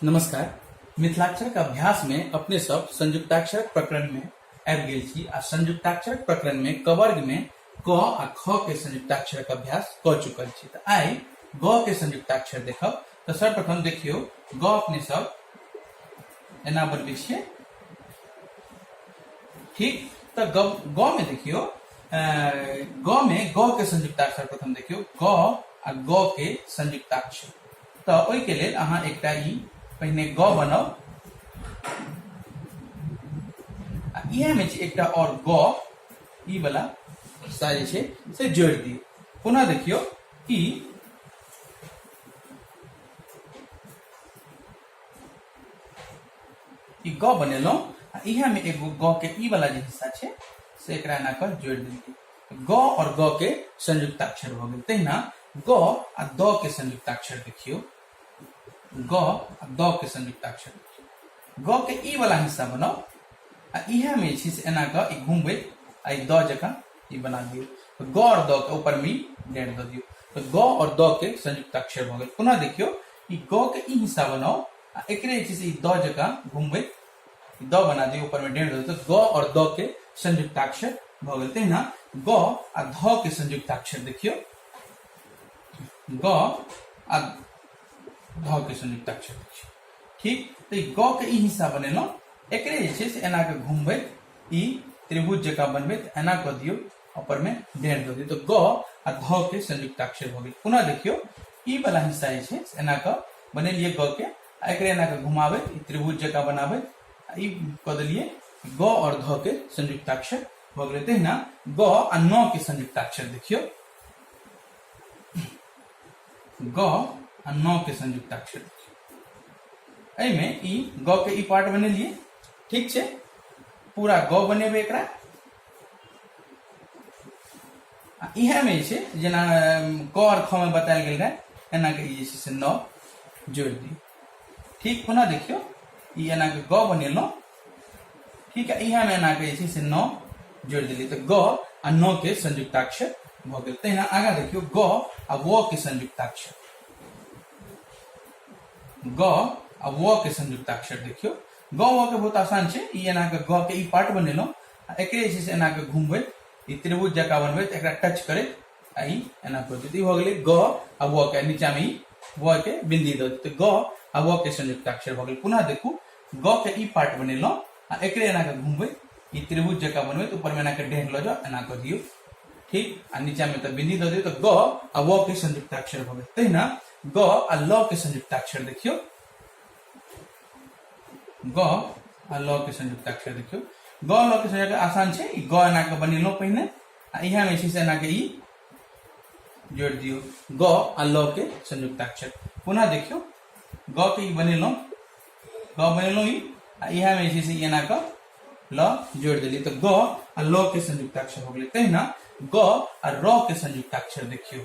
नमस्कार मिथिलाक्षरक अभ्यास में अपने सब संयुक्ताक्षरक प्रकरण में आबि गेल छी आ संयुक्ताक्षरक प्रकरण में कवर्ग में क आ ख के संयुक्ताक्षरक अभ्यास क चुकल छी तऽ आइ ग के संयुक्ताक्षर देखब तऽ सर्वप्रथम देखियौ ग अपने सब एना बनबै छियै ठीक तऽ ग ग में देखियौ ग में ग के संयुक्ताक्षर प्रथम देखियो ग आ ग के संयुक्ताक्षर तो ओई के लेल अहाँ एकटा ई पहिने ग बनाओ आ इहे में एकटा और ग ई वाला हिस्सा जे छै से जोड़ दी पुनः देखियो कि ई ग बनेलहुँ इहे में एगो ग के ई वाला जे हिस्सा छै से एकरा एना कऽ जोड़ि देलियै ग और ग के संयुक्ताक्षर भऽ गेल तहिना ग आ द के संयुक्ताक्षर देखियौ ग आ द के संयुक्ताक्षर देखियौ ग के ई वाला हिस्सा बनाउ आ इहे में जे छै से एना कऽ ई घुमबैत आ ई द जकाँ ई बना दियौ तऽ ग और द के ऊपर में ई डेढ़ दऽ दियौ तऽ ग और द के संयुक्ताक्षर भऽ गेल पुनः देखियौ ई ग के ई हिस्सा बनाउ आ एकरे जे छै से ई द जकाँ घुमबैत द बना दिए ऊपर में डेढ़ दो तो ग और द के संयुक्ताक्षर भ गए तहिना ग आ ध के संयुक्ताक्षर देखियो ग आ ध के संयुक्ताक्षर देखियो ठीक तो ग के ई हिस्सा बनेलो एक एना के घूमबे ई त्रिभुज जका बनबे एना क दियो ऊपर में डेढ़ दो दियो तो ग आ ध के संयुक्ताक्षर भ गए पुनः देखियो ई वाला हिस्सा एना क बनेलिए ग के एकरे एना के घुमावे त्रिभुज जका बनावे ई कह दिलिए ग और घ के संयुक्ताक्षर भ गए तहिना ग आ न के संयुक्ताक्षर देखियो ग आ न के संयुक्ताक्षर देखियो एमे ई ग के ई पार्ट बने लिए ठीक छे पूरा ग बने एक आ इएहमे जे छै जेना क आओर ख मे बतायल गेल रहै एना के ई जे छै से नौ जोड़ि दियौ ठीक पुनः देखियौ ई एना के ग बनेलहुँ ठीक है इएहमे एना के जे छै से नौ जोड़ि देलियै तऽ ग आ नौ के संयुक्ताक्षर भऽ गेल तहिना आगाँ देखियौ ग आ व के संयुक्ताक्षर ग आ व के संयुक्ताक्षर देखियौ ग व के बहुत आसान छै ई एना के ग के ई पार्ट बनेलहुँ आ एकरे जे छै से एना के घुमबै ई त्रिभुज जका बनबे तो एक टच करे आ ई एना कर देते हो गए ग आ व के नीचा में व के बिंदी दे देते ग आ व के संयुक्ताक्षर हो गए पुनः देखू ग के ई पार्ट बनेल आ एक एना के घूमबे ई त्रिभुज जका बनबे तो ऊपर में एना के डेढ़ लो जाओ एना कर दियो ठीक आ नीचा में तो बिंदी दे दियो तो ग आ व के संयुक्ताक्षर हो गए तहिना ग आ ल के संयुक्ताक्षर देखियो ग आ ल के संयुक्त अक्षर देखियो ग ल के संयुक्त आसान छै ई ग एना के बनेलो पहिने आ इहा में छै से एना के ई जोड़ दियो ग आ ल के संयुक्त अक्षर पुनः देखियो ग के ई बनेलो ग बनेलो ई आ इहा में छै से ई एना के ल जोड़ देली तो ग आ ल के संयुक्त अक्षर हो गेलै तहिना ग आ र के संयुक्त अक्षर देखियो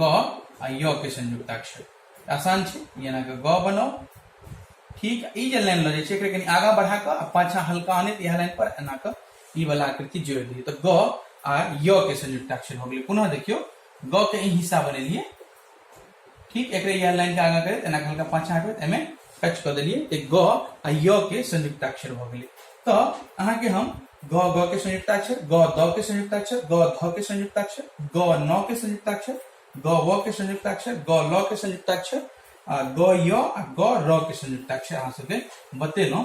ग आ य के संयुक्ताक्षर आसान छै जेना के ग बनाउ ठीक ई जे लाइन लऽ जाइ छै एकरा कनि आगाँ बढ़ा कऽ आ पाछाँ हल्का आनैत इएह लाइन पर एना कऽ ई वाला आकृति जोड़ि दियौ तऽ ग आ य के संयुक्ताक्षर हो गेलै पुनः देखियौ ग के ई हिस्सा बनेलियै ठीक एक इएह लाइन के आगा करैत एना हल्का पाछा हटबैत एहिमे टच कऽ देलियै तऽ ग आ य के संयुक्ताक्षर भऽ गेलै तऽ अहाँके हम ग ग के संयुक्ताक्षर ग द के संयुक्ताक्षर ग ध के संयुक्ताक्षर ग न के संयुक्ताक्षर ग व के संयुक्ताक्षर ग ल के संयुक्ताक्षर आ ग य आ ग र के संयुक्ताक्षर अहाँ सबके बतेलहुँ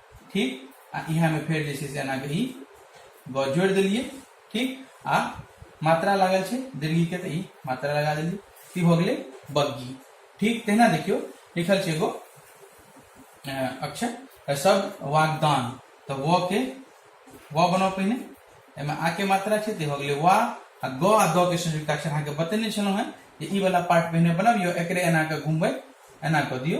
ठीक आ इहा में फिर जे से एना के ई ग जोड़ दिलिए ठीक आ मात्रा लागल छे दीर्घी के तो ई मात्रा लगा दिलिए ई हो गए बग्गी ठीक तहना देखियो लिखल छे एगो अक्षर सब वागदान तो वो के वो बनो पहिने एमे आ के मात्रा छे ते हो गए वा आ ग आ द के संयुक्त अक्षर अहाँ के बतेने छलो हैं जे ई वाला पार्ट पहिने बनाबियो एकरे एना के घुमबै एना क दियो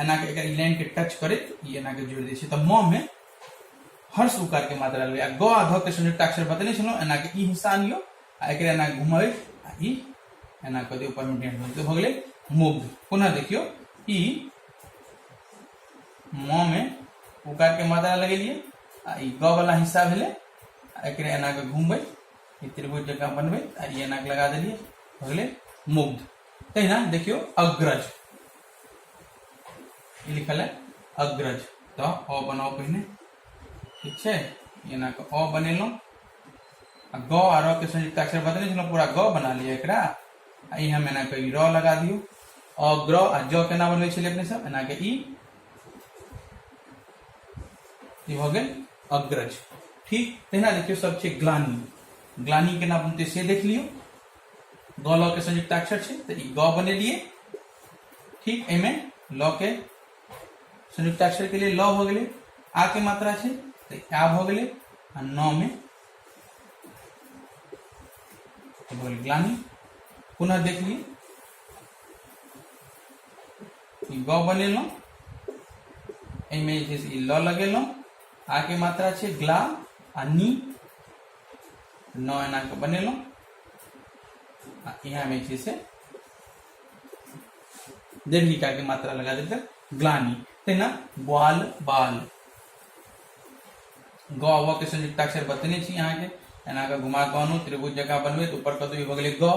एना के एकर लाइन के टच करैत ई एना के जोड़ दै छै तऽ म में हर्ष उकार के मात्रा लेबै आ ग आ ध के संयुक्त अक्षर बतने छलहुँ एना के ई हिस्सा आनियो आ एक एना घुमबै आ ई एना कऽ दियौ ऊपरमे डेंट भऽ भऽ गेलै मुग्ध पुनः देखियो ई म में उकार के मात्रा लगेलियै आ ई ग वाला हिस्सा भेलै आ एक एना के घुमबै ई त्रिभुज जकाँ बनबै आ ई एना के लगा देलियै भऽ गेलै मुग्ध तहिना देखियो अग्रज ई लिखल है अग्रज तो अ बनाओ पहिने ठीक है एना के अ बनेलो आ ग आ र के संयुक्त अक्षर बदले छलो पूरा ग बना लिया एकरा आ ई हम एना के ई र लगा दियो अग्र आ ज केना बनबै छलियै अपने सब एना के ई ई भऽ गेल अग्रज ठीक तहिना देखियौ सब छै ग्लानी ग्लानी केना बनतै से देख लियौ ग ल के संयुक्त अक्षर छै तऽ ई ग बनेलियै ठीक एमे ल के संयुक्ताक्षर के लिए ल हो गए आ के मात्रा है तो आ हो गए न में बोल ग्लानी पुनः देख ली ग बने लो एमे ल लगे लो आ के मात्रा है ग्ला आ नी न एना के बने लो यहाँ में से डेढ़ ईटा के मात्रा लगा देते ग्लानी ते ना बाल बाल गौ व के संयुक्त अक्षर बतने छी यहाँ के एना के घुमा गौनु त्रिभुज जगह बनबे तो ऊपर कदू हो गए गौ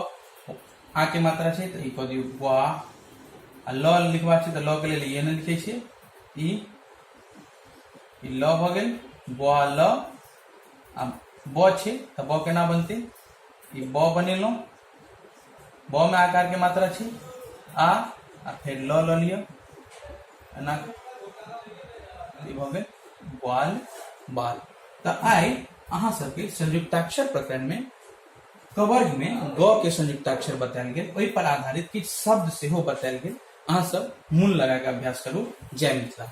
आ के मात्रा छै तो ई कह दियौ वा आ ल लिखबा छै तो ल के लिए एहन लिखे छियै ई ई ल भ गेल वा ल आ ब छै तो ब केना बनते ई ब बनेलहुँ ब में आकार के मात्रा छी आ आ फिर ल ल लियो एना भ गेल बाल बाल त आई अहा सबके संयुक्ताक्षर प्रकरण में कवर्ग में ग के संयुक्ताक्षर बतायल गेल ओहि पर आधारित किछु शब्द सेहो बतायल गेल अहा सब मूल लगा के अभ्यास करू जय मिथिला